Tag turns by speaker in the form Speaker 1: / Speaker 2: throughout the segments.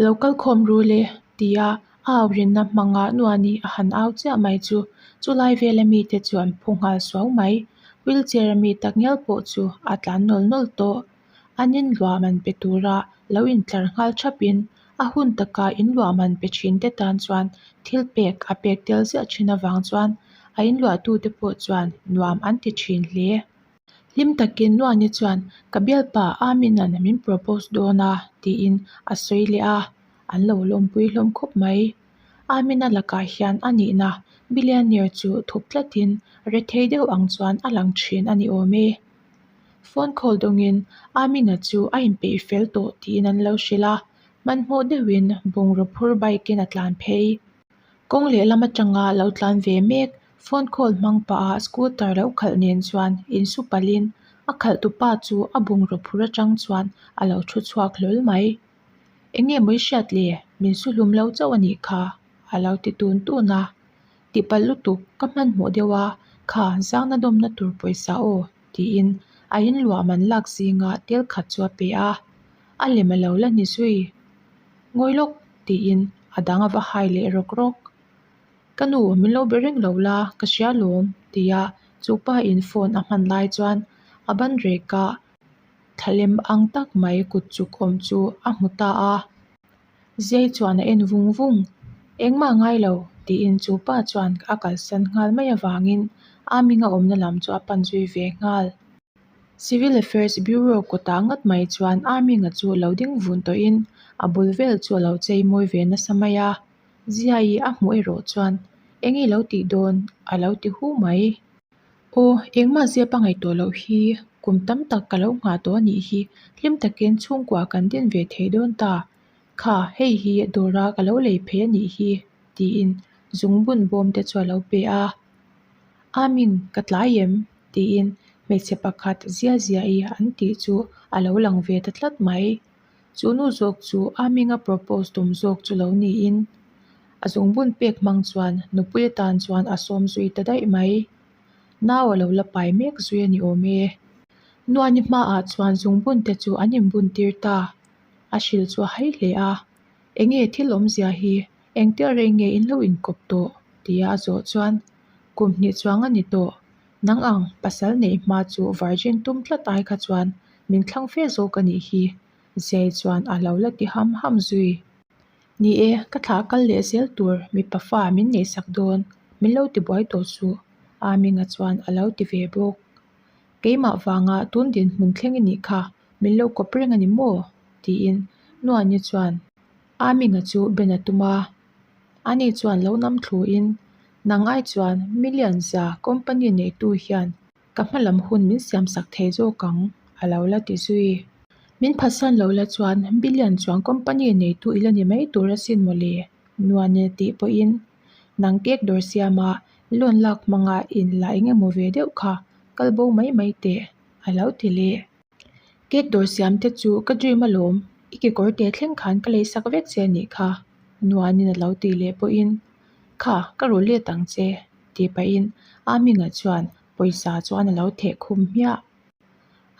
Speaker 1: Lo kal khawm ru le, ti a au rinna hmanga nuah nih a han au chiah mai chu. Chu lai vela mite chu an phu nghal suau mai. Wheelchair a mi ta ngial pawh chu a tlan nawl nawl tawh. A nin luam an pe tura lo intlar nghal thap in a hun taka in luam an pe thin te tan chuan thil pek a pek tel ziah thin avang chuan a in luah tute pawh chuan nuam an ti thin hle. Hlim takin Nuani chuan, Ka bialpa Aminan min propose dawn a, tiin a sawi leh a, an lo lawmpui hlawm khawp mai. Amina lakah hian a nihna billionaire chu thup tlatin rethei deuh ang chuan a lang thin a ni awm e. Phone call dawngin Amina chu a inpeih fel tawh tiin an lo hrilh a, hmanhmawh deuhin bungraw phur bike-in a tlan phei. Kawng leh lam atanga lo tlan ve mek phone call hmang pah ah scooter lo khalh nen chuan in su palh in a khalh tu pa chu a bungraw phur atang chuan a lo thu chhuak hlawl mai enge mawii hriat leh min su hlum lo chauh anih kha a lo ti tun tun a tipalh lutuk ka hman hmuh deuh a kha zang na dawm na tur pawisa aw tiin a in luah man lak zing a tel khat chu a pe a a lem a lo la ni zui. Ngawi lawk, tiin a dang a va hai leh rawk rawk. Ka nu, min lo be reng lo la, ka hria lawm, ti a chu pa in phone a hman lai chuan a ban rek a, thlalem ang tak mai kut chuk awm chu a hmu ta a, ziai chuan a en vung vung. Engmah ngai lo, tiin chu pa chuan a kalsan nghal mai avangin a minga awmna lam chu a pan zui ve nghal. Civil Affairs Bureau kawtah ngat mai chuan Aming-a chu lo ding vun tawhin a bul vel chu a lo chei mawi ve nasa mai a, Ziaii a hmuh erawh chuan eng i lo tih dawn? a lo ti hu mai. Aw, engmah zia pa ngaihtuah loh hi kum tam tak ka lo nghah tawh a nih hi, hlim takin chhungkua kan din ve thei dawn ta kha, hei hi dawra ka lo lei phei a nih hi tiin zungbun bawmte chu a lo pe a, Aming ka tlai em? tiin hmeichhe pakhat zia zia i an tih chu a lo lang ve ta tlat mai. Chu nu zawk chu a hming a propose tum zawk chu lo niin a zung bun pek hmang chuan nupui atan chuan a sawm zui ta daih mai. Nau a lo la pai mek zui a ni awm e. Nuani hma ah chuan zung bun te chu an inbun tir ta. A hrilh chu a hai hle a, Eng nge thil awmzia hi? Engte a rei nge in lo inkawp tawh? tia a zawh chuan, Kum hnih chuang a ni tawh. Nang ang, pasal neih hma chu virgin tum tlat ai kha chuan min thlang fe zawk a nih hi. Zei chuan a lo la ti ham ham zui. Ni e, ka thlah kal leh zel tur mipa fa min neih sak dawn, min lo ti buai tawh chu. A Minga chuan a lo ti ve bawk. Keimah vanga tun dinhmun thleng i nih kha, min lo kawp reng a ni maw? tiin Nuani chuan. A minga chu Ben a tum a, ani chuan lo nam thlu in, Nangai chuan million za company nei tu hian ka hma lam hun min siam sak thei zawk ang a lo la ti zui. Min phasan lo la chuan billion chuan company nei tu i la ni mai tur a sin mawle nuan nen a tih pawh in, nang kek dawr siam a loan lak hmanga in la eng emaw ve deuh kha kal bo mai mai teh a lo ti leh. Cake dawr siam te chu ka dream alawm i kekawr teh thleng khan ka lei sak vek che anih kha Nuanin alo ti leh pawhin kha ka ru let ang che ti pahin a hming ah chuan pawisa chuan alo theh khum hmiah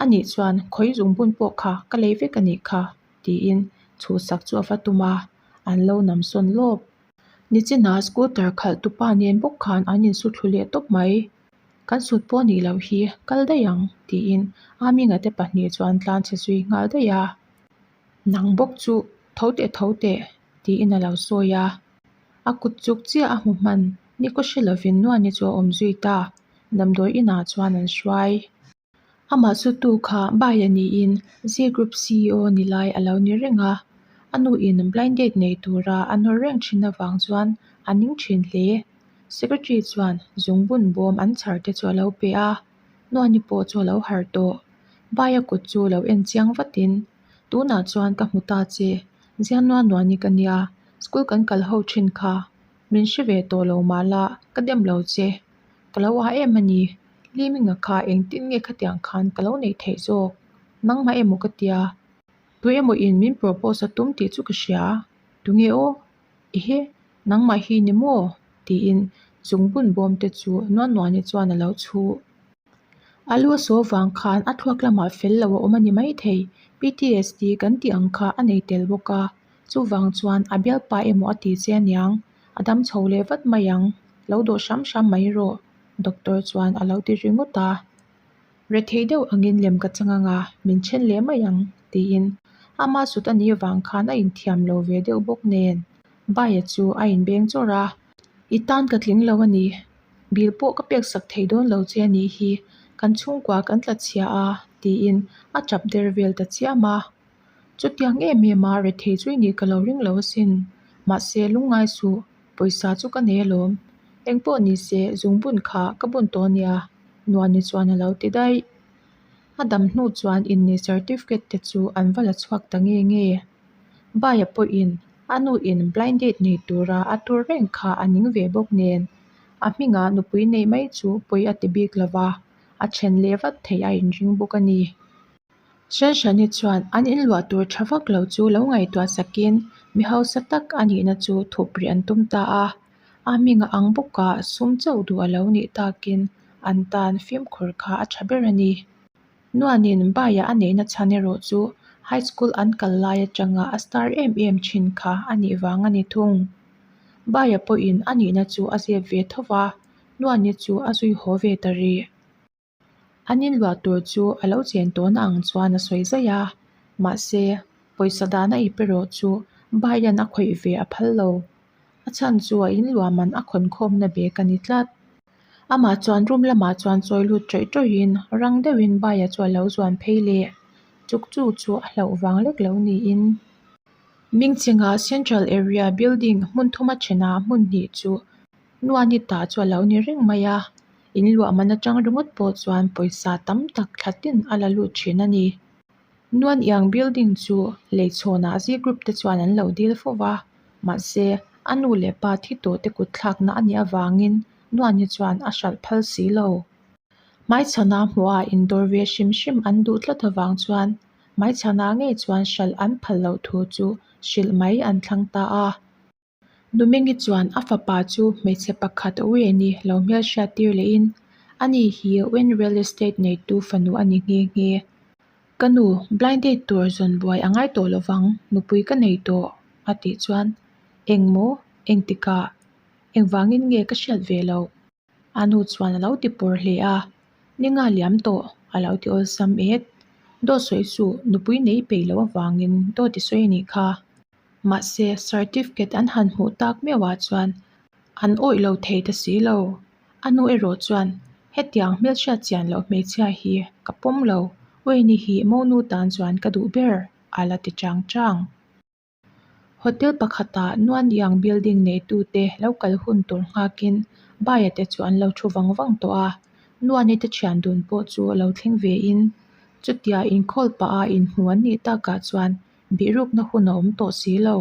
Speaker 1: anih chuan khawi zung bun pawh kha ka lei vek anih kha tiin chhu sak chu ava tum a an lo nam sawn lawp nichinah scooter khalh tupa nen bawk khan an insu thlu leh tawp mai. Kan sut pawh a nih loh hi, kal daih ang, tiin Aa Minga te pahnih chuan tlan chhe zui nghal daih a, nang bawk chu tho teh tho teh tiin a lo sawi a, a kut chuk chiah a hmuh hman ni kaw hre lovin nuaihni chu a awm zui ta, damdawi inah chuan an hruai. Amah chu tu kha baiah niin Zee Group CEO ni lai a lo ni reng a, a nu in blind date nei tura a nawr reng thin avang chuan a ning thin hle. Secretary chuan zungbun bawm an chhar te chu a lo pe a, nuani pawh chu a lo harh tawh. Baia kut chu lo en chiang vatin, Tunah chuan ka hmu ta che, Zianua nuani ka nia, school kan kal ho thin kha, min hre ve tawh lo mala ka dem lo che. ka lo ah em ani hlimna kha engtin nge khatiang khan ka lo nei thei zawk nangmah em awh ka ti a tui emaw in min propose a tum tih chu ka hria a tu nge aw ehe nangmah hi ni maw tiin zungbun bawm te chu nuan nuan hi chuan a lo chhu a lu a saw vang khan a thluak lamah fel lo a awm ani maithei ptsd kan tih ang kha a nei tel bawk a. Chuvang chuan a bialpa emaw a ti che niang, a dam chho leh vat mai ang, lo dawh hram hram mai rawh, Doctor chuan a lo ti ringawt a. Rethei deuh angin lem ka chang anga min then leh mai ang, tiin ama sut a nih avang khan a inthiam lo ve deuh bawk nen, Baia chu a inbeng chawrh a. I tan ka tling lo a ni, bil pawh ka pek sak thei dawn lo che nih hi, kan chhungkua kan tla chhia a, tiin a tap der vel ta chiam a. Chutiang em em a, rethei chu i nih ka lo ring lo asin. Mahse, lungngai suh, pawisa chu ka nei alawm. Eng pawh ni se, zung bun kha ka bun tawh a ni a, Nuani chuan a lo ti daih. A dam hnu chuan inneih certificate te chu an va la chhuak ta nge nge. Baia pawhin a nu in blind date nei tura a tur reng kha a ning ve bawk nen, a hmingah nupui neih mai chu pawi a ti bik lova, a then leh vat theih a inring bawk a ni. Hralhrani chuan an inluah tur tha vak lo chu lo ngaihtuah sakin mi hausa tak a nihna chu thuprih an tum ta a, a hming a ang bawka sum chauh duh a lo nih takin an tan fimkhur kha a tha ber a ni. Nuanin baiah a neihna chhan erawh chu high school an kal lai atanga a star em em thin kha a nih vang a ni thung. Baia pawhin a nihna chu a zep ve tho va, Nuani chu a zui haw ve ta rih. An inluah tur chu a lo chen tawn ang chuan a sawi zaih a, mahse, pawisa dan a ipe rawh chu bai hian a khawih ve a phal lo. A chhan chu a inluah man a khawn khawmna bek a ni tlat. Amah chuan room lamah chuan chawi lut ṭawih ṭawhin rang deuhin baia chu a lo zuan phei le. Chukchuk chu a hlauh vang lek lo niin. Mingchenga Central Area Building hmun thuma ṭhena hmun hnih chu Nuanita chu a lo ni reng mai a, in luahman atang ringawt pawh chuan pawisa tam tak thlatin a la lut thin a ni. Nuaniang building chu lei chhawnah Z group te chuan an lo dil fo va, mahse a nu leh pa thi tawh te kut thlakna a nih avangin Nuani chuan a hralh phal si lo. Hmaichhana hmuhah indawr ve hrim hrim an duh tlat avang chuan hmaichhana ngei chuan hralh an phal loh thu chu hrilh mai an thlang ta a. Numingi chuan a fapa chu hmeichhe pakhat a ui a ni lo hmel hriat tir lehin, A ni hi Wen Real Estate neitu fanu a ni nghe nghe. Ka nu blind date tur zawn buai a ngai tawh lovang, nupui ka nei tawh, a tih chuan, Engmaw? Engtikah? Engvangin nge ka hriat ve loh? A nu chuan a lo ti pawr hle a, Ninga liam tawh, a lo ti awlsam e. Dawhsawi chu nupui nei peih loh avangin daw ti sawi a nih kha. Mahse, certificate an han hmuh tak meuh ah chuan an awih lo thei ta si lo. A nu erawh chuan, Hetiang hmelchhia chian loh hmeichhia hi ka pawm lo, Weini hi Monu tan chuan ka duh ber, a la ti chang chang. Hotel pakhata nuan iang building neitute lo kal hun tur nghâkin buyer te chu an lo ṭhu vang vang tawh a, nuane te ṭhian dun pawh chu a lo thleng ve in. Chutia inkhawl pah a inhmu an nih tak ah chuan bihrukna hun a awm tawh si lo.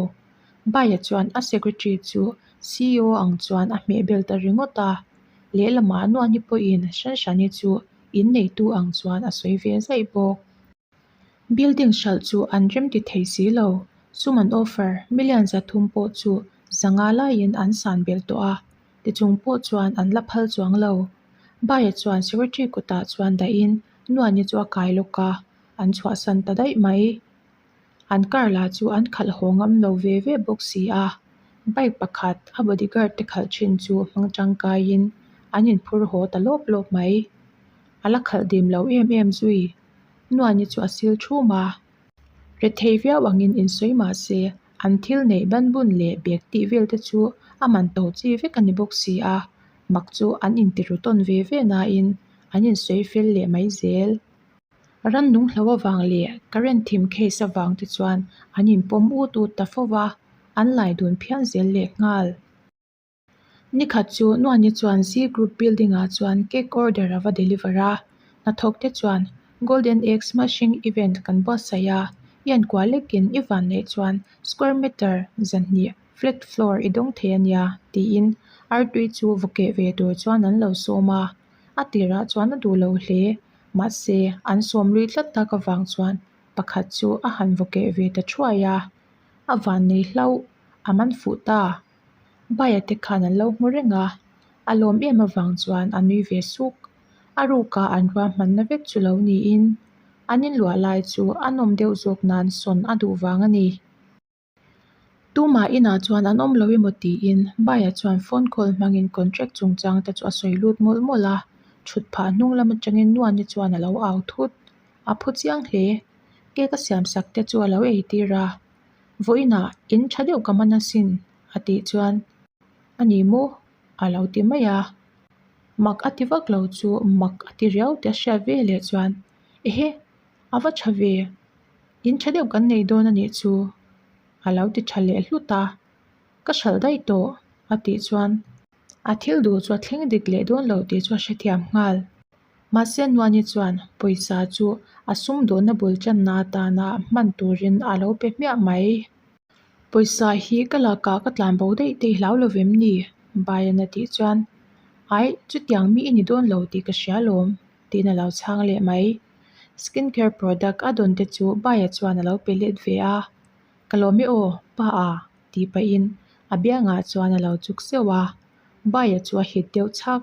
Speaker 1: Buyer chuan a secretary chu CEO ang chuan a hmeh bel ta ringawt a, lehlamah nuane pawhin Shanshani chu in neitu ang chuan a sawi ve zaih bawk. Building hralh chu an remti thei si lo. Suman offer million za thum pawh chu za nga laiin an san bel tawh a, tichung pawh chuan an la phal chuang lo. Baiah chuan secretary kutah chuan dahin nuaini chu a kai lawk a, an chhuahsan ta daih mai. An car lah chu an khalh haw ngam lo ve ve bawk si a, bike pakhat a bodyguard te khalh thin chu hmang tangkaiin an inphur haw ta lawp lawp mai. A la khalh dim lo em em zui. Nuaini chu a sil thu ma. Rethei viau angin in sawi mah se an thil neih ban bun leh bag tih vel te chu a man to chi vek a ni bawk si a, mak chu an in ti ru tawn ve ve na in an in sawi fel leh mai zel. Ram nung hlo avang leh current thim case avang te chuan an in pawm ut ut ta fo va, an laidun phian zel leh nghal. Nikhat chu Nuani chuan Z Group Building ah chuan cake order a va deliver a, hnathawk te chuan Golden Egg Smashing Event kan buatsaih a, i enkuah lek in i van neih chuan square metre zahnih flat floor i dawng thei a nia tiin Artui chu vawkeh ve tur chuan an lo sawm a, a tirah chuan a duh lo hle mahse an sawm lui tlat tak avang chuan pakhat chu a han vawkeh ve ta thuai a, a van nei hlauh a man fuh ta. Baia te khan an lo hmu reng a, a lawm em avang chuan a nui ve suk. A ruk a an ruahmanna vek chu lo niin an inluah lai chu a nawm deuh zawk nan sawn a duh vang a ni. Tumah inah chuan an awm lo emaw tiin Baia chuan phone call hmangin contract chungchang te chu a sawi lut mawlh mawlh a, thut phah hnung lam atangin Nuaia chuan a lo au thut. A phu chiang hle. Cake a siam sak te chu a lo ei tir a. Vawiinah in tha deuh ka man asin a tih chuan a ni maw a lo ti mai a, mak a ti vak lo chu mak a ti riau tih a hriat ve leh chuan ehe a va tha ve in tha deuh kan nei dawn a nih chu a lo ti tha leh hlut a, ka hralh daih tawh a tih chuan a thil duh chu a thleng dik leh dawn lo tih chu a hrethiam nghal. Mahse Nuani chuan pawisa chu a sum dawhna bul channa atana hman turin a lo pe hmiah mai. Pawisa hi ka lakah ka tlan bo daih daih hlau lo vem ni? Bayan a tih chuan, Aih, chutiang mi i ni dawn lo tih ka hria lawm, tiin a lo chhang leh mai. Skin care product a dawn te chu Baya chuan a lo pe let ve a, Ka lawm e aw, pa a, tih pahin a biangah chuan a lo chuk seuh a. Baya chu a hit deuh chak.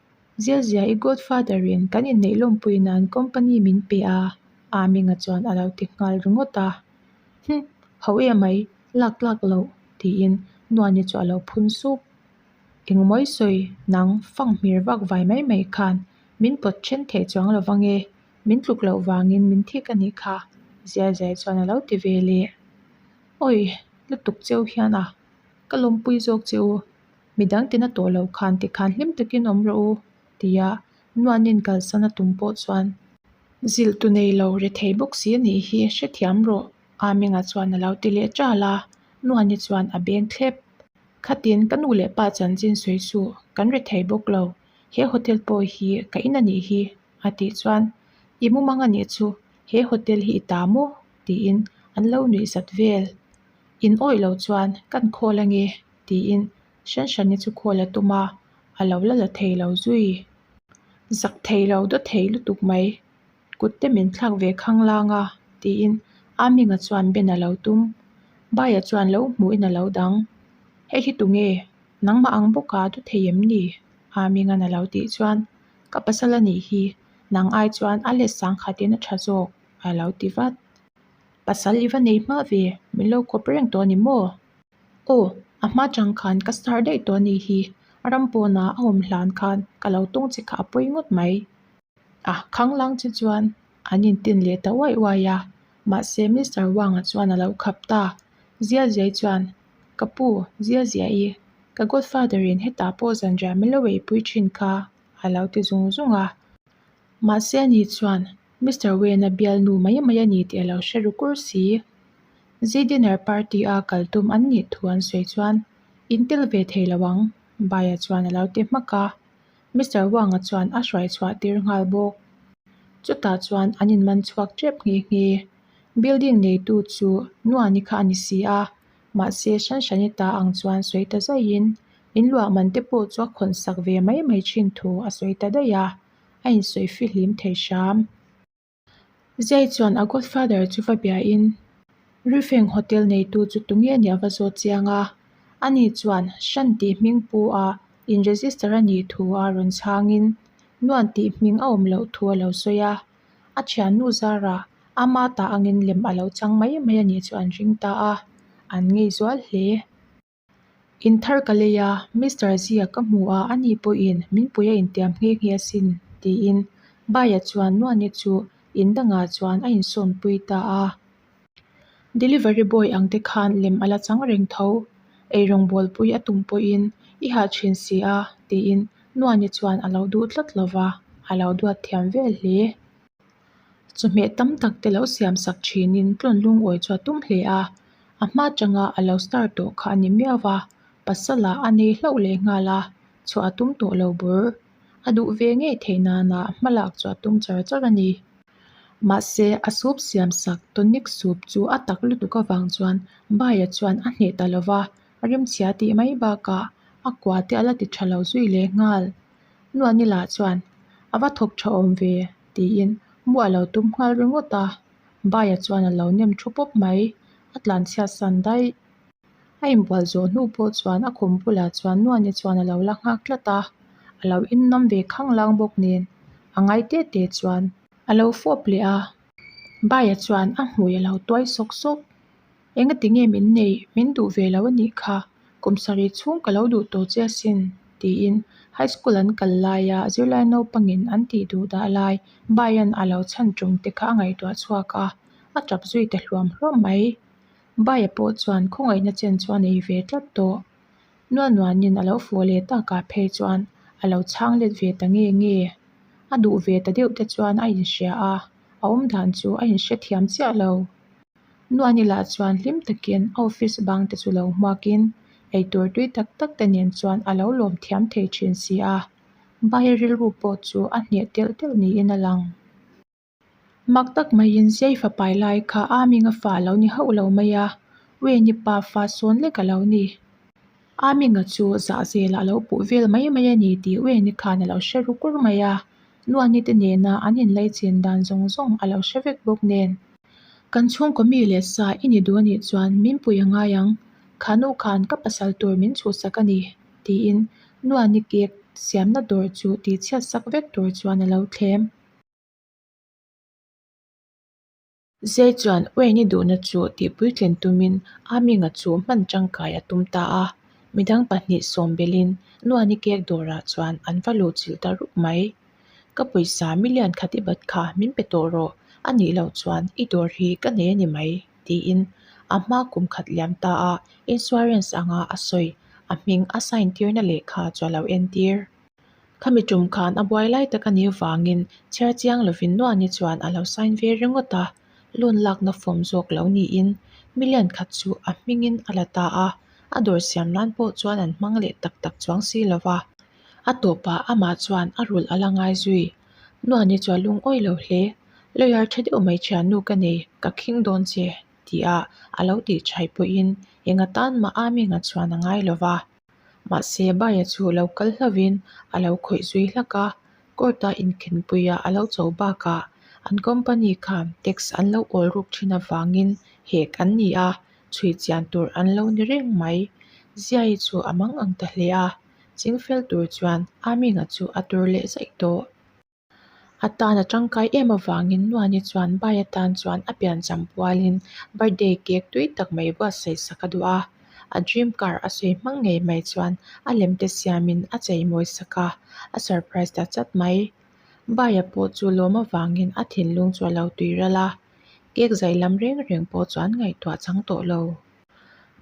Speaker 1: Ziazia i godfather in kan inneih lawmpui nan company min pe a, a ming a chuan a lo ti nghal ringawt a, Hum, hauh e mai, lak lak lo, tiin Nuani chu a lo phun suk. Engmawi sawi nang fang hmir vak vai mai mai khan min pawt then thei chuang lo vang e, min tluk loh vangin min thik a nih kha, Ziaziai chuan a lo ti vel e. Awih, lutuk cheu hian a ka lawmpui zawk che u. Midang tina tawh loh khan tikhan hlim takin awm rawh u ti a nuanin kalsan a tum pawh chuan zilh tu nei lo re thei bawk si anih hi hrethiam rawh a Menga chuan a lo ti leh ṭal a nuani chuan a beng thlep khatin ka nu leh pa chanchin sawi chu kan re thei bawk lo he hotel pawh hi ka in anih hi a tih chuan i mum anga nih chu he hotel hi i ta maw tiin an lo nuih zat vel in awih lo chuan kan call ange. tiin Hran Hrani chu khawl a tum a, a lo la la thei lo zui. Zak thei lo daw thei lutuk mai, kut te min thlak ve khang lang a, tiin a minga chuan Ben a lo tum. Baia chuan lo hmuh in a lo dang, Hei hi tu nge? Nangmah ang bawk a du thei em ni? a minga'n a lo tih chuan Ka pasal a nih hi, nang ai chuan a let sang khat in a tha zawk, a lo ti vat. Pasal i va nei hma ve, min lo khawp reng tawh a ni maw? Aw, a hma chang khan ka star daih tawh a nih hi, a ram pawnah a awm hlan khan ka lo tawng che kha a pawi ngawt mai. A khanglang che chuan an intin leh ta uaih uaih a, mahse Mister Wanga chuan a lo khap ta, Ziaziai chuan, Ka pu, Ziazia i, ka godfather in hetah pawh zanriah milo ei pui thin kha, a lo ti zung zung a. Mahse ni chuan Mister Wen a bial nu mai mai a ni tih a lo hre ru kur si. Zidiner party a kal tum an nih thu an sawi chuan in tel ve thei lo ang. Bai-a chuan a lo ti hmak a, Mister Wang-a chuan a hruai chhuah tir nghal bawk. Chutah chuan an in man chhuak tep nghe nghe. Building neitu chu Nuani kha a ni si a, mahse hran hran i ta ang chuan sawi ta zaihin in luahman te pawh chu a khawnsak ve mai mai thin thu a sawi ta daih a. a insawi fihlim thei hram. Zei chuan a godfather chu va bia in Ruifeng hotel neitu chu tu nge nia va zawt chiang a, ani chuan Hran tih hming pu a in register a nih thu a rawn chhang in Nuan tih hming a awm loh thu a lo sawi a, a thiannu zar ah ama ta angin lem a lo chang mai mai a nih chu an ring ta a, an ngei zual hle. In thar ka lei a, Mister Zia ka hmu a, a ni pawhin min puia intiam nghe nghe a sin, tiin Baia chuan Nuani chu in dangah chuan a insawnpui ta a. Delivery boy ang te khan lem a la chang reng tho. Eirawng bualpui a tum pawhin, I hah thin si a, tiin Nuani chuan a lo duh tlat lo va, a lo duat thiam vel hle. chawhmeh tam tak te lo siam sak thinin tlawn lungawi chu a tum hle a, a hma changa a lo start tawh kha a ni miau va, pasala a nei hlauh leh nghal a chhuah a tum tawh lo bur, a duh ve ngei theih nana hma lak chu a tum char char a ni. Mahse, a sup siam sak tonic sup chu a tak lutuk avang chuan Bai-a chuan a hneh ta lo va, a rimchhia tih mai bakah a kua te a la ti tha lo zui leh nghal. Nuan-ila chuan, A va thawk tha awm ve. Tiin mu a lo tum nghal ringawt a, Baia chuan a lo nem thu pawp mai, a tlan chhiat san daih. A inbual zawh hnu pawh chuan a khum bulah chuan Nuaia chuan a lo la nghak tlat a, a lo innam ve khang lang bawk nen a ngai teh teh chuan. A lo fawp leh a, Baia chuan a hmui a lo tuai sawk sawk. Enga ti nge min nei min duh ve lo a nih kha, kum sarih chhung ka lo duh tawh che a sin, tiin high school an kal laia zirlai naupangin an tih duh dah lai baiin a lo chhan tum te kha a ngaihtuah chhuak a, a tap zui ta hluam hluam mai. Baia pawh chuan khawngaihna chen chu a nei ve tlat tawh. Nualnuanin a lo fuaw leh takah phei chuan a lo chhang let ve ta nge nge. A duh ve ta deuh te chuan a inhria a, a awmdan chu a inhria thiam chiah lo. Nuan ila chuan hlim takin office bang te chu lo hmakin eitur tui tak tak te nen chuan alo lawm thiam thei thin si a, bai rilru pawh chu a hneh telh telh niin a lang. Mak tak maiin Ziai fapai lai kha a minga fa lo ni hauh lo mai a, Weini pa fa sawn lek alo ni. A minga chu zahzel a lo puh vel mai mai a ni tih uaih ni khan a lo hre ru kur mai a Nuani te nena an in lei chin dan zawng zawng a lo hre vek bawk nen Kan chhungkaw mi leh sa i ni duh a nih chuan min pui a ngai ang, khanu khan ka pasal tur min chhuhsak a ni tiin Nuani cake siamna dawr chu ti chhiat sak vek tur chuan a lo thlem. Zei chuan Uain i duhna chu tihpuitlen tumin a Minga chu hman tangkai a tum ta a. Midang pahnih sawm belhin Nuan i kek dawrah chuan an va lo chilh ta rup mai. Ka pawisa million khat i bat kha min pe tawh rawh, a nih loh chuan i dawr hi ka nei a ni mai, tiin a hma kum khat liam ta a insurance anga a sawi, a hming a sign tirna lehkha chu a lo entir. Khami tum khan a buai lai tak a nih avangin chhiar chiang lovin nuahnei chuan a lo sign ve ringawt a, loan lakna form zawk lo niin million khat chu a hmingin a la ta a, a dawr siam nan pawh chuan an hmang leh tak tak chuang si lo va, a tawpah amah chuan a rul a la ngai zui. Nuahnei chuan lungawi lo hle, lawyer tha deuh mai thiannu ka nei, ka khing dawn che, tih a a lo tih chhai pawhin engatan mah Aming-a chuan a ngai lo va. Mahse, Baia chu lo kal hlovin a lo khawih zui hlak a. Court a inkhenpuiah a lo cho bakah an company kha tax an lo awl ruk thin avangin hek an ni a, chhui chian tur an lo ni reng mai. Ziai chu a mang ang ta hle a, chingfel tur chuan Aming-a chu a tur leh zaih tawh. A tan a tangkai em avangin Nuani chuan bai atan chuan a pian cham pualin birthday cake tui tak mai buat saihsa ka duh a, a dream car a sawi hmang ngei mai chuan a lem te siamin a chei mawi sak a, a surprise ta chat mai. Bai a pawh chu lawm avangin a thinlung chu a lo tui ralh a, cake zai lam reng reng pawh chu an ngaihtuah chang tawh lo.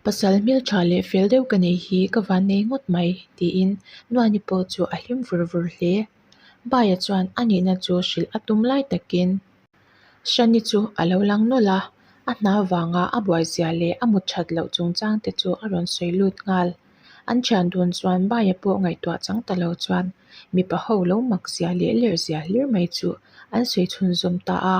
Speaker 1: Pasal hmel tha leh fel deuh ka nei hi ka van nei ngawt mai, tiin Nuani pawh chu a hlim vur vur hle. Baia chuan a nihna chu hrilh a tum lai takin Shani chu a lo lang nawlh a, a hna vanga a buaizia leh a mut that loh chungchang te chu a rawn sawi lut nghal. An thian dun chuan Baia pawh ngaihtuah chang ta lo chuan mipa ho lo mak zia leh lerh zia hlir mai chu an sawi chhunzawm ta a.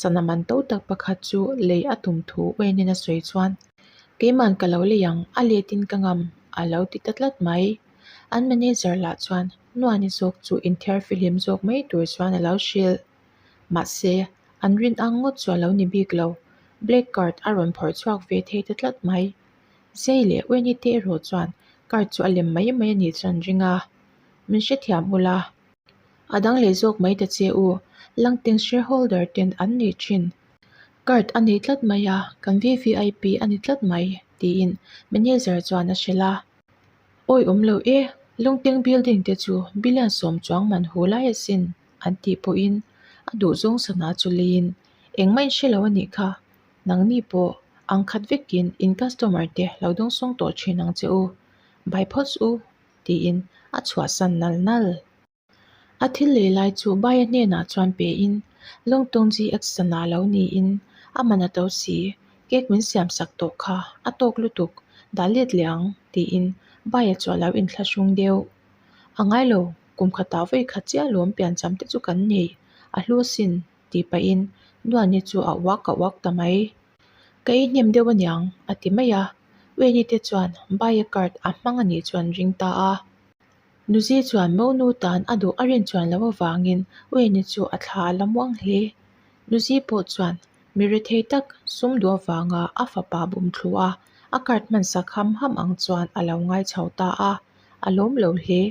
Speaker 1: Sana man to tak pakhat chu lei a tum thu Uenin a sawi chuan, Keiman ka lo lei ang, a letin ka ngam, a lo ti ta tlat mai. An manager lah chuan Nuani zawk chu inthiar fihlim zawk mai tur chuan a lo hrilh. Mahse, an rin ang ngawt chu a lo ni bik lo, black card a rawn phawrh chhuak ve thei ta tlat mai. Zei leh Ueni te erawh chuan card chu a lem mai mai a nih chuan an ring a, min hrethiam ula. A dang leh zawk mai ta che u. Langteng shareholder ten an nih thin. Card a nei tlat mai a, kan VVIP a ni tlat mai, tiin manager chuan a hre la. Awi awm lo e, Lungteng Building te chu billion sawm chuang man hu lai asin, an tih pawhin a duh zawng san a, chu leiin engmah in hre lo a nih kha, nangni pawh ang khat vekin in customer te lo dawng sawng tawh thin ang che u, bai phawt u tiin a chhuahsan nal nal. A thil leh lai chu Baia hnenah chuan pein, Lungtung GX-a na lo niin a man a to si, cake min siam sak tawh kha a tawk lutuk dah let leh ang tiin Baia chu a lo inthla hrawng deuh. A ngai lo, kum khatah vawi kha chiah lawm piancham te chu kan neih a hluasin tih pahin Nuan-ni chu a uak a uak ta mai. Ka ei hnem deuh a niang, a ti mai a. Ueni te chuan Baia card a hmang a nih chuan ring ta a. Nuzi chuan Mo nu tan a duh a rin chuan lo avangin Ueni chu a thla a la muang hle. Nuzi pawh chuan mi rethei tak sum duh avanga a fapa bum thlu a, a card hmansak ham ham ang chuan a lo ngai chho ta a. A lawm lo hle.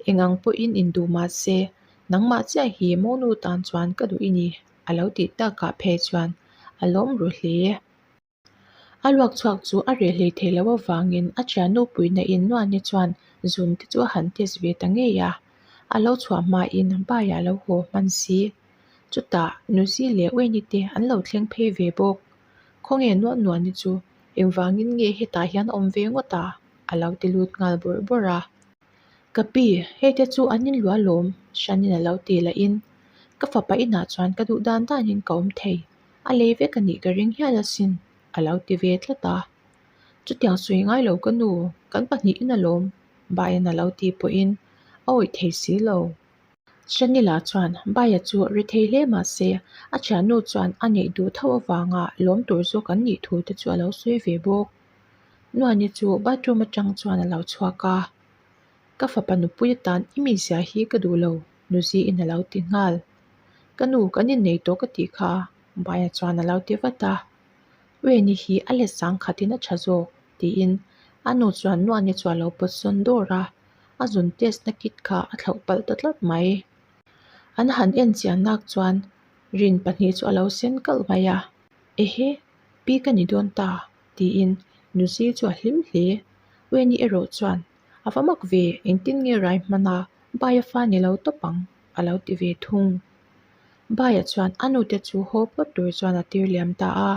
Speaker 1: Eng ang pawhin in duh mahse, nangmah chiah hi Mo nu tan chuan ka duh i ni. a lo tih tak kah phei chuan a lawm ruh hle a a luak chhuak chu a reh hlei theih loh avangin a ṭhian nu puina in nuahnte chuan zun te chu a han test ve ta ngei a a lo chhuah hmain bai a lo haw hman si chutah nu zil leh uaini te an lo thleng phei ve bawk khaw nge nuah nuah ni chu engvangin nge hetah hian a awm ve ngawt a a lo ti lut nghal bawrh bawrh a. Ka pi, hei te chu an inluah lawm, Shanin a lo ti la in. Ka fapa inah chuan ka duh dan dan in ka awm thei. A lei vek a nih ka ring hial asin, a lo ti ve tlat a. Chutiang sawi ngai lo ka nu, kan pahnih in a lawm, Baiin a lo ti pawh in, a awih thei si lo. Shanila chuan Baia chu a ri thei hle mah se, a thiannu chuan a neih duh tho avanga lawm tur zawk an nih thu te chu a lo sawi ve bawk. Nuaini chu bathroom atang chuan a lo chhuak a, ka fapa nupui atan i mizia hi ka duh lo nuzi in a lo ti nghal. Ka nu kan innei tawh ka tih kha baiah chuan a lo ti vat a, Uaini hi a let sang khatin a tha zawk tiin a nu chuan Nuaini chu a lo pawt sawn dawr a, a zun test na kit kha a thlauh palh ta tlat mai. An han en chian nak chuan rin pahnih chu a lo sen kalh mai a, Ehe, Pi ka ni dawn ta, tiin Nuzi chu a hlim hle. Wei ni erawh chuan, A va mak ve, engtin nge rai hman a, bai a fa ni lo tawp ang, a lo ti ve thung. Baia chuan a nute chu haw phawt tur chuan a tir liam ta a.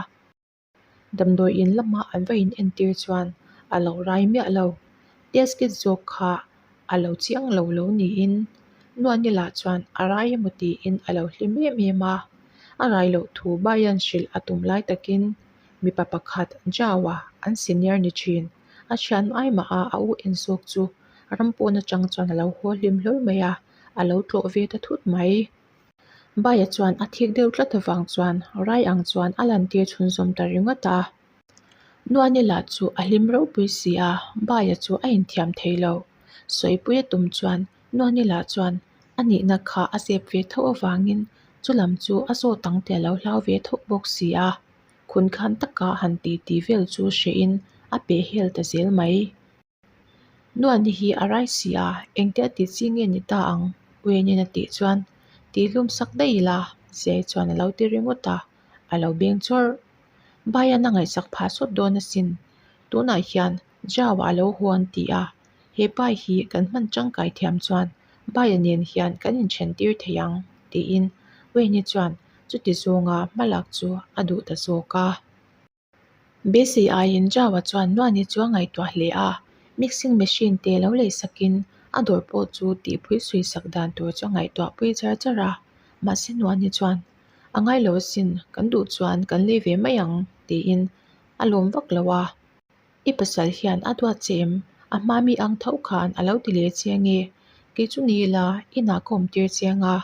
Speaker 1: Damdawi in lamah an va inentir chuan a lo rai miah lo. Test kit zawk kha a lo chiang lo lo niin nuan ila chuan a rai emaw tiin a lo hlim em em a a rai loh thu bai hian hrilh a tum lai takin mipa pakhat jauhah an senior ni thin a thian ai mah a a u en zawk chu a ram pawn atang chuan a lo haw hlim hlur mai a a lo tlawh ve ta thut mai baia chuan a thik deuh tlat avang chuan rai ang chuan a lan tirchhun zawm ta ringawt a. Nuanila chu a hlim ropui si a, Baia chu a inthiam thei lo. Sawipuia tum chuan Nuanila chuan a nihna kha a zep ve tho avangin chu lam chu a zawt ang te a lo hlau ve tho bawk si a, khun khan taka han ti ti vel chu hrehin a pehhel ta zel mai. Nuan ni hi a rai si a, engte a tih chi nge ni ta ang? Uianin a tih chuan tih hlum sak daih ila, Ziai chuan a lo ti ringawt a, a lo beng chawrh. Baia na ngaihsak phah sawt dawn asin, tunah hian Jao-a a lo huan tih a, he pai hi kan hman tangkai thiam chuan Baia nen hian kan inthen tir thei ang, tiin Uiani chuan chuti zawnga hmalak chu a duh ta zawk a. Busy ai in Java chuan Nuani chu a ngaihtuah hle a, mixing machine te lo lei sakin a dawr pawh chu tihpui suisak dan tur chu a ngaihtuah pui char char a. Mahse Nuani chuan, A ngai lo asin, kan duh chuan kan lei ve mai ang, tiin a lawm vak lo a. I pasal hian a duat che em? A hma mi ang tho khan a lo ti leh che ange. Kei chu ni ila, inah ka awm tir che anga,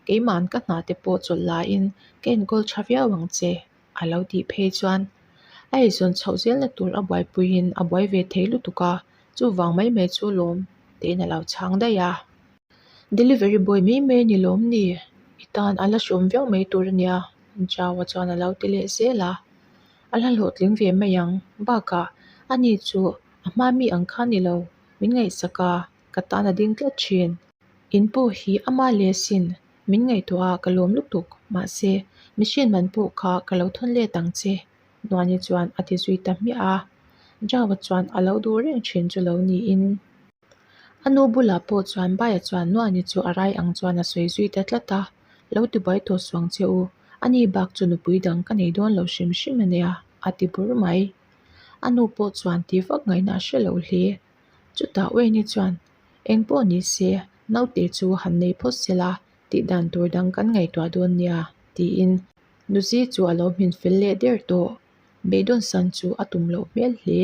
Speaker 1: keima'n ka hnah te pawh chawlh lahin ka enkawl tha viau ang che. a lo tih phei chuan a eizawn chhoh zel na tur a buaipuiin a buai ve thei lutuk a chuvang mai mai chu lawm tein a lo chhang daih a delivery boy mai mai a ni lawm ni i tan a la hrawm viau mai tur a ni a chaua chuan a lo ti leh zel a a la hlawhtling ve mai ang bakah a ni chu a hma mi ang kha ni lo min ngaihsak a ka tan a ding tlat thin in pu hi ama leh sin. Min ngaihtuah a ka lawm lutuk. Mahse, mihriat man pawh kha ka lo thawn let ang che. Nuani chuan a ti zui ta hmiah a. Java chuan a lo duh reng thin chu lo niin, a nu bulah pawh chuan Baia chuan Nuani chu a rai ang chuan a sawi zui ta tlat a. Lo ti buai tawh suang che u. A ni bak chu nupui dang ka nei dawn lo hrim hrim a nia, a ti bur mai. A nu pawh chuan ti vak ngaihna a hre loh hle. Chutah Wayne-i chuan, Eng pawh ni se, naute chu han nei phawt se la, tih dan tur dang kan ngaihtuah dawn nia, tiin Nuzi chu a lo hmin fel leh der tawh. Beidon san chu a tum loh hmel hle.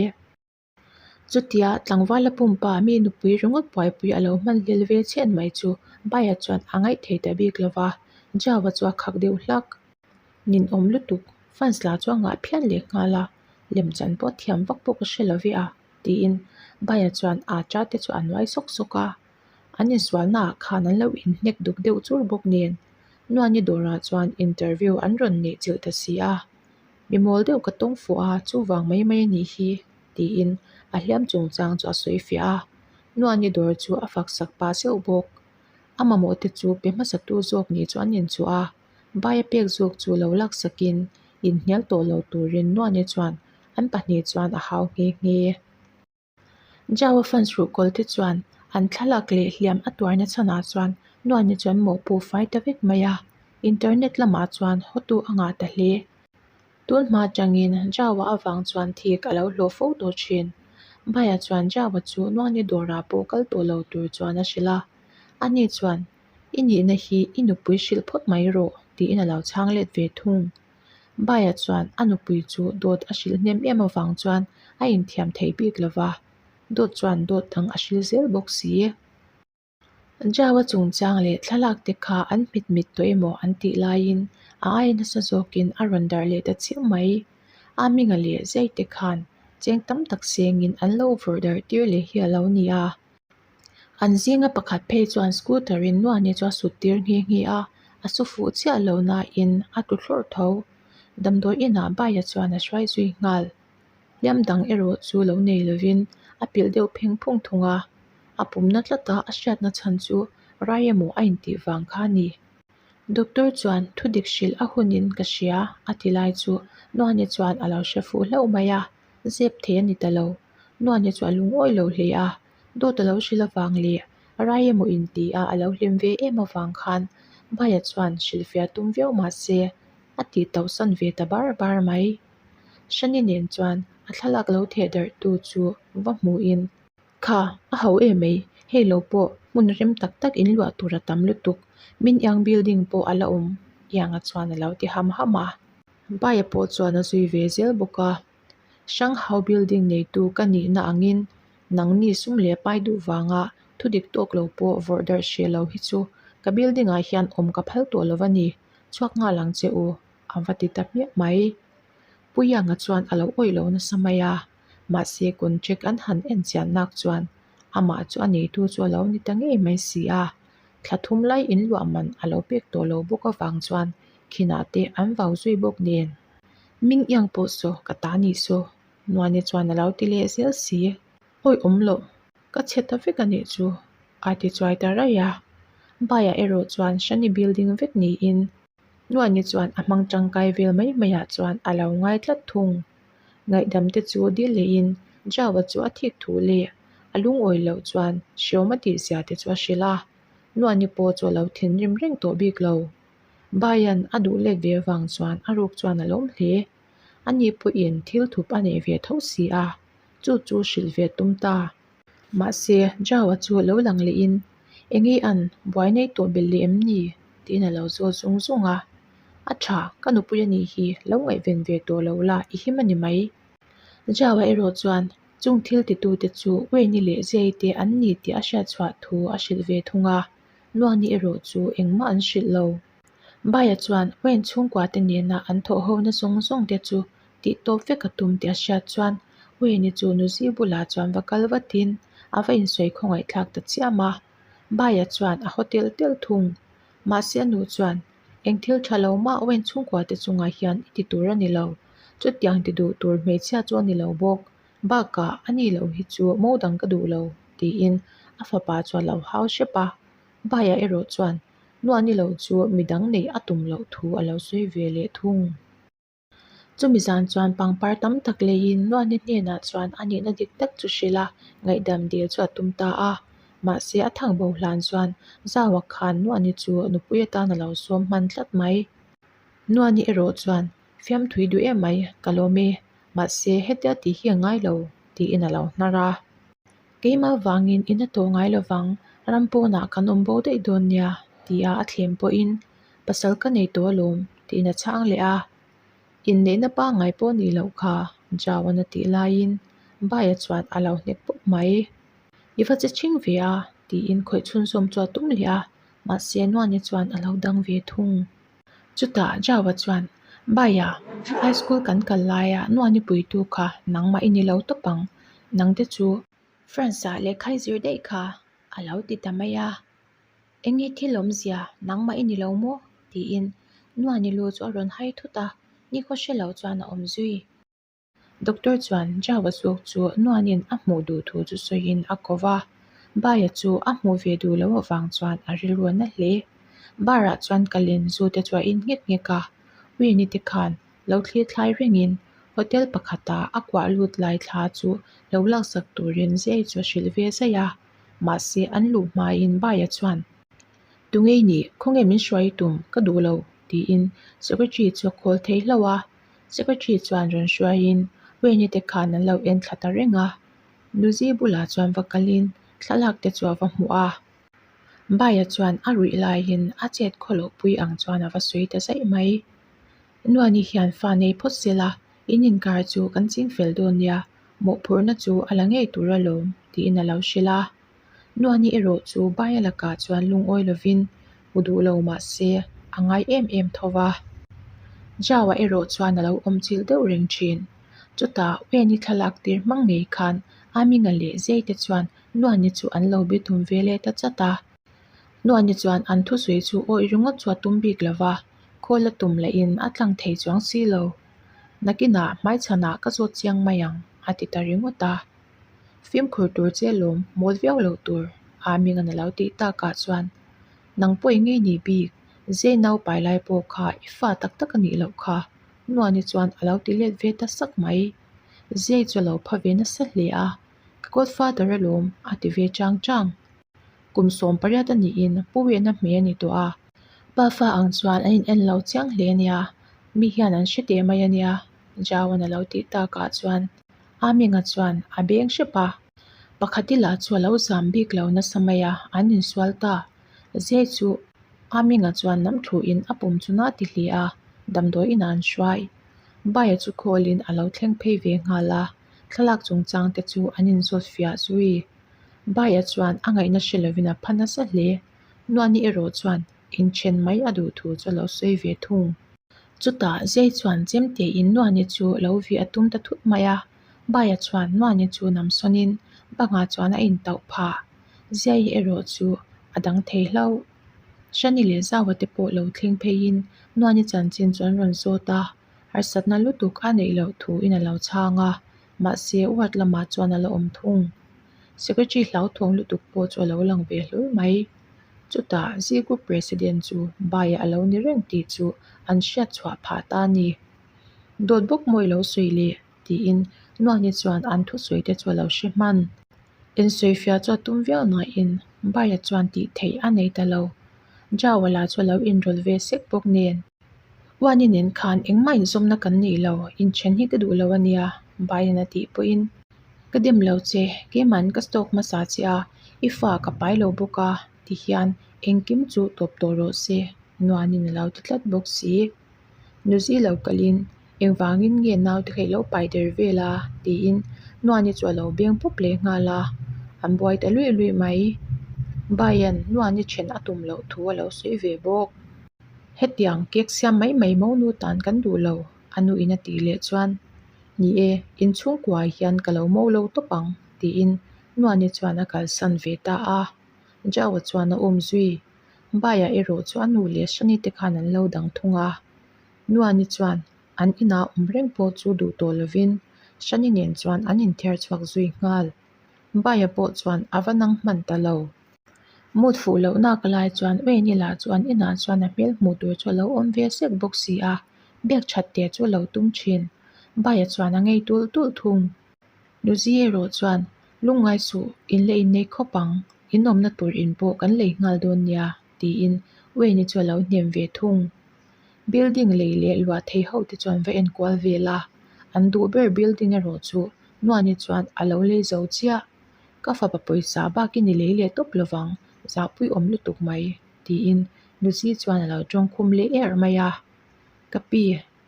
Speaker 1: Chutia tlangvala pumpa mi nupui ringawt buaipui a lo hman lel ve chhian mai chu Bai-a chuan a ngaih thei ta bik lo va. Jao-a chu a khak deuh hlak. Nin awm lutuk. Fans-la chu a ngah phian leh nghal a, lemchan pawh a thiam vak bawk a hre lo ve a. tiin baiah chuan a ṭa te chu a nuai sawk sawk a an insualna ah khan an lo in hnek duk deuh chur bawk nen nuaini dawrah chuan interview an rawn nih chilh ta si a mi mawl deuh ka tawng fuh a chuvang mai mai a nih hi tiin a hliam chung chang chu a sawi fiah a nuaini dawr chu a fak sak pah zeuh bawk a mamawh te chu pe hmasa tu zawk nih chu an inchawh a. Vai a pek zawk chu lo laksakin inhnial tawh lo turin Nuaia chuan an pahnih chuan a hau nghe nghe a. Java fan suhkawl te chuan an thlalak leh hliam a tuarna chhanah chuan Nuaia chuan mawhpu fai ta vek mai a. Internet lamah chuan hotu a ngah ta hle. Tunhma atangin Java avang chuan thik a lo hlawh fo tawh thin. Vaia chuan Java chu Nuaia dawrah pawh kal tawh lo tur chuan a hrilh a. Ani chuan I nihna hi i nupui hrilh phawt mai rawh, tiin a lo chhang let ve thung. Baiah chuan a nupui chu dawt a hrilh hnem em avang chuan a inthiam thei bik lo va, dawt chuan dawt dang a hrilh zel bawk si e. Jaua chungchang leh thlalakte kha an hmit hmit tawh emaw an tih laiin a ai nasa zawkin a rawn darh leh ta chiah mai. A minga leh zaite khan cheng tam tak sengin an lo vawrh darh tir leh hial lo ni a. an zinga pakhat phei chuan scooter in nuaih ni chu a sut tir nghi nghi a a saw fuh chiah loh nain a tlu hlawrh tho damdawi inah bike a chuan a hrai zui nghal hliam dang erawh chu lo nei lovin a pilh deuh pheng phung thung a a pumna tlat a a hriatna chhan chu rai emaw a intih vang kha a ni doctor chuan thu dik hrilh a hun in ka hria a ti lai chu nuaih ni chuan a lo hre fuh hlauh mai a zep thei a ni ta lo nuaih ni chu a lungawih lo hle a. Dawt a lo hrilh avang leh a rai emaw in ti a a lo hlim ve em avang khan Baiah chuan hrilh fiah tum viau mah se a tih tauh san ve ta bar bar mai. Shani nen chuan a thlalak lo theh darh tu chu va hmuh in. Kha, a hau em mai, hei lo pawh hmun rem tak tak in luah tur a tam lutuk, min eng building pawh a la awm iang a chuan a lo ti ham ham a. Baiah pawh chuan a zui ve zel bawk a. Shanghau Building neitu ka nihna angin nangni sum leh pai duh vanga thudik tawk lo pawh vawrh darh hreh lo hi chu ka building ah hian awm ka phal tawh lo va ni, chhuak nghal ang che u a va ti ta hmiah mai. Puiyanga chuan a lo awih loh nasa mai a, mahse contract an han en chiah nak chuan amah chu a neitu chu a lo ni ta ngei mai si a, thla thum lai in luah man a lo pek tawh lo bawk avang chuan khinah te an vau zui bawk nen. Min iang pawh saw ka ta ni saw. Nuaine chuan alo ti leh zel si, Awi awm loh, ka chhe ta vek anih chu, a ti chuai ta raih a. Baiah erawh chuan Shani bil ding vek niin Nuaine chuan a hmang tangkai vel mai mai ah chuan alo ngai tlat thung. Ngaihdam te chu dil leh in Java chu a thik thu leh a lungawi loh chuan hriawm a tih zia te chu a hrilh a. Nuaine pawh chu alo thinrim reng tawh bik lo. Baian a duh let ve avang chuan a ruk chuan a lawm hle. Ani pawhin thil thup a nei ve tho si a, chu chu hrilh ve tum ta. Mahse, Jao-a chu a lo lang leh in, Eng nge an buai nei tawh belh leh em ni? tiin a lo zawt zung zung a. A tha, ka nupui a nih hi, lo ngaihven ve tawh lo la, i him a ni mai. Jao-a erawh chuan chung thil ti tute chu Wayne-i leh Jay-te an ni tih a hriat chhuah thu a hrilh ve thung a. Luangni erawh chu engmah an hrilh lo. Baia chuan Wayne chhungkuate nena an thawhhona zawng zawng te chu tihtawp vek a tum tih a hriat chuan Wayne-i chu Nuzi bulah chuan va kal vatin a va insawi khawngaihthlak ta chiam a. Baia chuan a haw tel tel thung. Mahse a nu chuan, Eng thil tha lo mah Wayne chhungkuate chungah hian i ti tur a ni lo. Chutiang ti duh tur hmeichhia chu a ni lo bawk. Bakah a nih loh hi chu mo dang ka duh lo, tiin a fapa chuan lo hau hrep a. Baiah erawh chuan nuah ni loh chu midang neih a tum loh thu a lo sawi ve leh thung. Chumi zan chuan pangpar tam tak leiin nuah ni hnenah chuan a nihna dik tak chu hrilh a, ngaihdam dil chu a tum ta a. Mahse, a thang boh hlan chuan zau a khan nuah ni chu nupui atan a lo sawm hman tlat mai. Nuah ni erawh chuan fiamthui duh em mai ka lawm e. mahse heti a tih hi a ngai lo tiin a lo hnar a, keima vangin in a tawh ngai lovang ram pawnah kan awm bo daih dawn nia tia a thlen pawhin pasal ka nei tawh alawm tiin a chhang leh a, inneihna pangngai pawh a nih loh kha jao a na tih laiin bai a chuan a lo hnek pawp mai, i va che chhing ve a tiin khawih chhunzawm chu a tum leh a mahse nuan hi chuan a lo dang ve thung. Chutah Joe-a chuan, Baia, high school kan kal laia nuani puitu kha nangmah i ni lo tawp ang. Nangte chu. France-a lehkhai zir daih kha a lo ti ta mai a, eng nge thil awmzia nangmah i ni lo maw? tiin nuani lu chu a rawn hai thut a, Ni khaw hre lo chuan a awm zui. Doctor chuan Java zawk chu nuanin a hmuh duh thu chu sawiin a ko va, Baia chu a hmuh ve duh loh avang chuan a rilruah na hle. Bar-ah chuan ka len zu te chu a in ngek ngek a, Winnie te khan lo thlir thlai rengin hotel pakhata a kuah lut lai thla chu lo laksak turin zia hi chu a hrilh ve zai a, mahse an luh hmain Baia chuan. Tungei nih khawngem in hruai tum ka duh lo, tiin secretary chu a call thei hlo a. Secretary chuan rawn hruaiin Wayne-i te khan an lo en thla ta reng a. Luzi bulah chuan va kalin thlalak te chu a va hmu a. Bai-a chuan a ruih laiin a chet khaw loh pui ang chuan a va sawi ta zaih mai. Nuan-i hian fa nei phawt zel a, in inkar chu kan ching fel dawn nia, mawhphurhna chu a la ngei tur a lawm, tiin a lo hrilh a. Nuani erawh chu bai a lakah chuan lungawi lovin hmu duh lo mah se a ngai em em tho va. Jaua erawh chuan a lo awmchilh deuh reng thin. Chutah Weni thlalak tir hmang ngei khan Amina leh Zei te chuan Nuani chu an lo be tum ve let a chat a. Nuani chuan an thusawi chu awi ringawt chu a tum bik lo va, khawi la tum la in a tlang thei chuang si lo. Nakinah hmaichhanah ka zawt chiang mai ang, a ti ta ringawt a. Fimkhur tur che lawm mawl viau lo tur aa ming a na lo tih takah chuan nang pawi ngei ni bik zei nau pai lai pawh kha i fa tak tak a nih loh kha hnuani chuan a lo ti let ve ta sak mai zei chu a lo pha ve nasa hle a ka godfather a lawm a ti ve chang chang. Kum sawm pariat a niin pu wehna hmeh a ni tawh a. Pa fa ang chuan an in en lo chiang hle a nia mi hian an hre teh mai a nia Jao a na lo tih takah chuan. A Minga chuan a beng hrep a, pakhat ila chu a lo zam bik lo nasa mai a, an insual ta zia chu A Minga chuan lam thluh in a pum chun a ti hle a, damdawi inah an hruai. Bai-a chu khawl in a lo thleng phei ve nghal a, thlalak chung chang te chu an in zawt fiah zui. Bai-a chuan a ngaihna hre lo in a pha nasa hle. Nuahni erawh chuan in then mai a duh thu chu a lo sawi ve thung. Chutah zei chuan chemtei in nuahni chu lo vi a tum ta thut mai a, Baia chuan nuahni chu nam sawnin bangah chuan a in tauh phah. Zei erawh chu a dang thei hlauh. Shani leh Zaua te pawh lo thleng pheiin nuahni chanchin chu an rawn zawt a, harsatna lutuk a neih loh thu in a lo chhang a. Mahse, u Hat Lama chuan a la awm thung. Secretary hlauthuang lutuk pawh chu a lo lang ve hlur mai. Chutah Z Group President chu bai ah a lo ni reng tih chu an hriat chhuah phah ta a ni. Dawt bawk maw i lo sawi le? tiin Nuani chuan an thusawi te chu a lo hre hman. Insawifiah chu a tum viau nain bai a chuan tih theih a nei ta lo. Jawala chu a lo inrawlh ve sek bawk nen. Uan i nen khan engmah inzawmna kan neih lo, inthen hi ka duh lo a nia, Biden a tih pawhin. Ka dem lo che, keimahin ka stock hmasa a che a, i fa ka pai lo bawk a ti hian engkim chu tawp tawh rawh se, Nuanin a lo ti tlat bawk si. Nuzilo kalhin. Engvângin nge naute kha i lo pai der vêl a? tiin Nua'n-i chu a lo beng pup leh nghal a, a buai ta luih luih mai. Baia'n Nua'n-i ṭhen a tum loh thu a lo sawi ve bawk. Hetiang cake siam mai mai maw nu tân kan duh lo? a nuin a tih leh chuan, Ni e, in chhungkuaah hian ka lo mâwi lo tawp ang, tiin Nua'n-i chuan a kalsan ve ta a. Jao-a chuan a awm zui. Baia erawh chu a nu leh Shani-te khan an lo dang thung a. Nuani chuan an inah awm reng pawh chu duh tawh lovin Shani nen chuan an inthiar chhuak zui nghal. Baiah pawh chuan a va nang hman ta lo. Mut fuh loh naka lai chuan Wayne-ila chu an inah chuan a hmel hmuh tur chu a lo awm ve sek bawk si a, bag that te chu a lo tum thin. Baiah chuan a ngei tul tul thung. Nuzi erawh chuan, Lungngai suh, in leh in nei khawp ang, in awmna tur in pawh kan lei nghal dawn nia. tiin Uaini chu a lo hnem ve thung. Building lei leh luah thei ho te chuan va en kual ve la, an duh ber building erawh chu Nuaini chuan a lo lei zo chiah. Ka fapa pawisa bak in i lei leh tawp lo vang, zahpui awm lutuk mai, tiin Nuzi chuan a lo tawngkhum leh er mai a. Ka pi.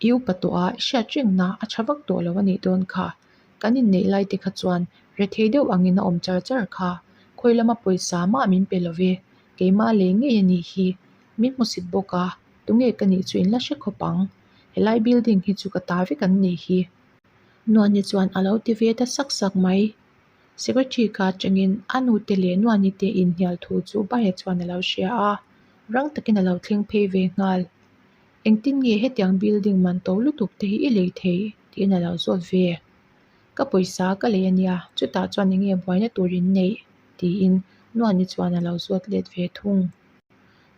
Speaker 1: I upa tawh a, i hriat ṭiak na, a ṭha vak tawh lo a nih dawn kha. Kan inneih lai te kha chuan rethei deuh angin a awm char char kha. Khawi lama pawisa mah min pe lo ve. Keimah lei ngei a nih hi. Min hmu sip bawk a, tunge ka nih chu in la hre khawp ang. Helai building hi chu ka ta vek an nih hi. Nuani chuan a lo ti ve ta sak sak mai. Secretary ka ṭangin a nu te leh Nuani te inhnial thu chu Baia chuan a lo hria a, rang takin a lo thleng phei ve nghal. Engtin nge hetiang building man to lutuk te hi i lei thei tiin alo zawt ve a, ka pawisa ka lei ania chutah chuan enge buaina tur in neih tiin nuan i chuan alo zawt let ve thung,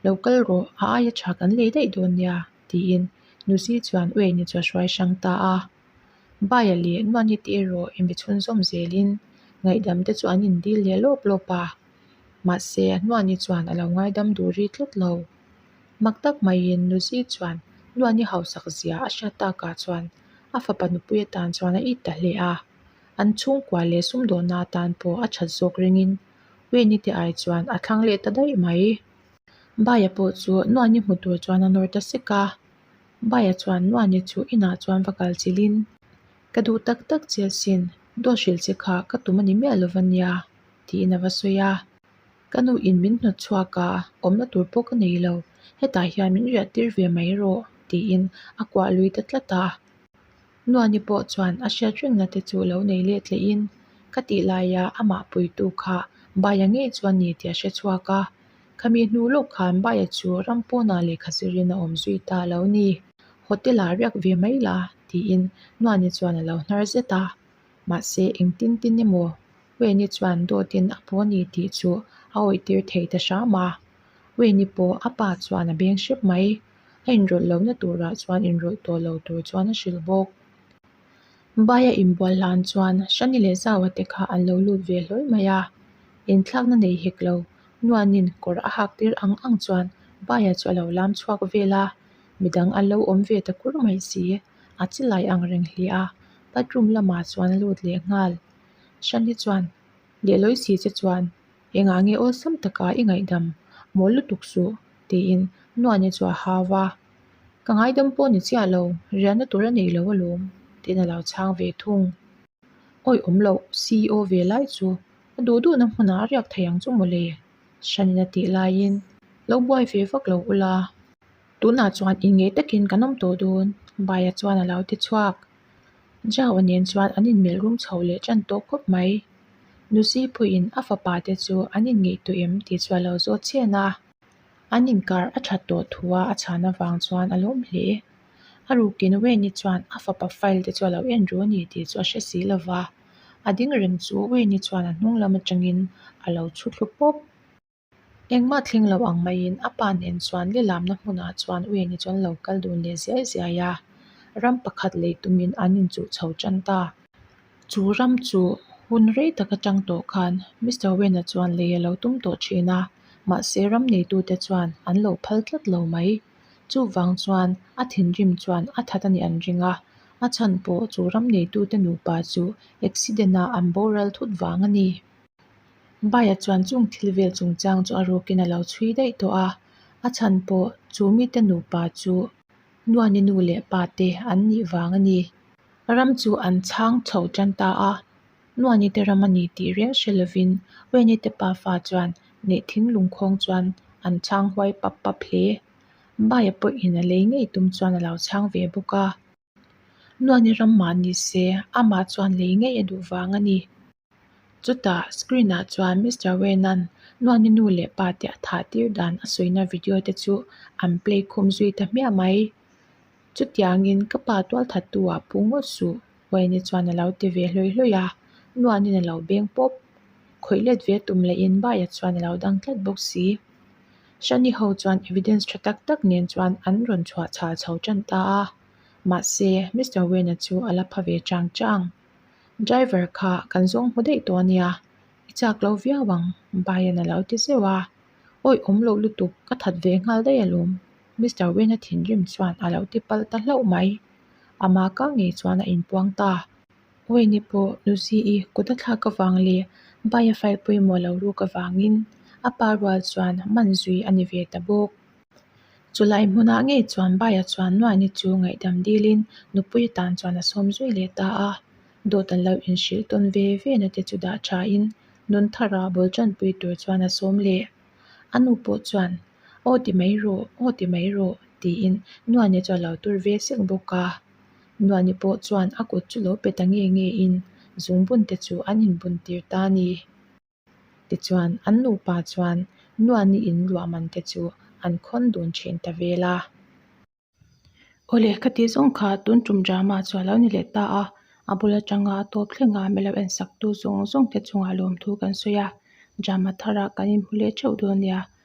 Speaker 1: lo kal rawh a aia tha kan lei daih dawn nia tiin Nuzi chuan uei ni chu a hruai hrang ta a, Baia leh nuan hi tih erawh inbe chhun zawm zelin ngaihdam te chu an indil leh lawp lawp a, mahse nuan hi chuan alo ngaidam duri tlat lo. Mak tak maiin Nuzi chuan Nuan i hausak zia a hriat tak ah chuan a fapa nupui atan chuan a it ta hle a. An chhungkua leh sum dawhna atan pawh a that zawk rengin Weini te ai chuan a thlang leh ta daih mai. Baia pawh chu Nuani hmu tur chuan a nawr ta sek a. Baia chuan Nuani chu inah chuan va kal chilhin, Ka duh tak tak chiasin, duahrilh che kha ka tum a ni miah lova nia, tiin a va sawi a. Ka nu in min hnawt chhuak a, awm na tur pawh ka nei lo. Hetah hian min riah tir ve mai rawh, tiin a kuah lui ta tlat a. Nuani pawh chuan a hriat reng na te chu lo nei let leh in ka tih lai a, amah puitu kha Baia ngei chuan ni tia hre chhuak a. Khami hnu lawk khan Baia chu ram pawnah lehkha zir in a awm zui ta lo ni. Hotel ah riak ve mai la, tiin Nuani chuan a lo hnar zet a. Mahse, engtin tin emaw Wayne-i chuan Dawtin a pu a ni tih chu a awihtir thei ta hram a. Wayne-i pawh a pa chuan a beng hrep mai. A inrawlh lohna turah chuan inrawlh tawh lo tur chuan a hrilh bawk. Baia inbual hlan chuan Shani leh Zaua te kha an lo lut ve hlawi mai a. Inthlakna nei hek lo Nuanin kawr a hak tir ang ang chuan Baia chu a lo lam chhuak vel a. Midang an lo awm ve ta kur mai si a chilai ang reng hliah a. bathroom lamah chuan a lut leh nghal Shanni chuan Lehlawi si che chuan engah nge awlsam taka i ngaihdam mawi lutuk suh tiin Nuaini chu a hau a ka ngaidam pawh ni chiah lo riahna tur a neilo alawm tiin alo chhang ve thung awih awm loh CEO ve lai chu a duh duh na hmunah a riak thei ang chu mawle Shanni-in a tih laiin lo buai ve vak lo ula. Tunah chuan in ngei takin kan awm tawh dawn. Baia chuan a lo ti chhuak. Java nen chuan an inmelh rum chho leh ṭan tawh khawp mai. Lucy pawhin a fapa te chu an in ngaihtuah em tih chu a lo zawt chian a. An inkar a ṭhat tawh thu a a chhan avang chuan a lawm hle. A rukin Wayne-i chuan a fapa file te chu a lo en ru a ni tih chu a hre si lo va. A ding reng chu Wayne-i chuan a hnung lam aṭangin a lo chhutlu pawp. Engmah thling loh ang maiin a pa nen chuan le lamna hmunah chuan u eng hi chuan lo kal dun leh ziai ziai a, ram pakhat lei tumin an inchuh chho tan ta. Chu ram chu hun rei tak atang tawh khan Mister Wen-a chuan lei a lo tum tawh thin a, mahse ram neitute chuan an lo phal tlat lo mai. Chuvang chuan a thinrim chuan a that a nih an ring a, a chhan pawh chu ram neitute nupa chu accident-a an boral thut vang a ni. Baiah chuan chung thil vel chung chang chu a rukin a lo chhui daih tawh a, a chhan pawh chu mite nupa chu Nuani nu leh pa te an nih vang a ni. Ram chu an chhang chho tan ta a, Nuani te ram a ni tih riau hre lovin Uini te pa fa chuan neih thing lungkhawng chuan an chhang huai pap pap hle. Baiah pawhin a lei ngei tum chuan a lo chhang ve bawk a. Nuan i ram mah ni se, amah chuan lei ngei a duh vang a ni. Chutah screen ah chuan Mister Wena'n Nuani nu leh pa te a thah tir dan a sawina video te chu an play khum zui ta hmiah mai. Chutiangin ka pa tual that tu ah pu ngawt suh Wayne chuan a lo ti ve hlawih hlawih a, Nuanin a lo beng pawp. Khawih let ve tum leh in bai ah chuan a lo dang tlat bawk si. Shani ho chuan evidence tha tak tak nen chuan an rawn chhuah chhal chho tan ta a, mahse Mister Wayne-a chu a la pha ve chang chang. Driver kha kan zawng hmu daih tawh a nia, i chak lo viau ang, Bayan a lo ti zeuh a. Awih awm loh lutuk, ka that ve nghal daih alawm, Mister Wayne-a thinrim chuan a lo ti pal ta hlauh mai. Ama kang ngei chuan a inpuang ta. Uaini pawh Luzi i kut a thlak avang leh bai a fai pawimawh lo ruk avangin a pa rual chuan man zui a ni ve ta bawk. Chulai hmunah ngei chuan bai-a chuan Nuaini chu ngaihdam dilin nupui atan chuan a sawm zui leh ta a. Dawtan lo inhrilh tawn ve vena te chu dah thain nun tharah bul chanpui tur chuan a sawm leh. A nu pawh chuan Aw ti mai rawh, aw ti mai rawh tiin Nuaini chu a lo tur ve sek bawk a. Nuahni pawh chuan a kut chu lo pet a nge nge in zungbun te chu an in bun tir ta a ni. Tichuan an nupa chuan Nuahni in ruahman te chu an khawn dun thin ta vel a. Aw le, ka tih zawng kha tun tum drama chu a lo ni leh ta a, a bul atanga a tawp thleng a milo en sak tu zawng zawng te chungah lawmthu kan sawi a, drama thar ah kan in hmu leh theuh dawn nia.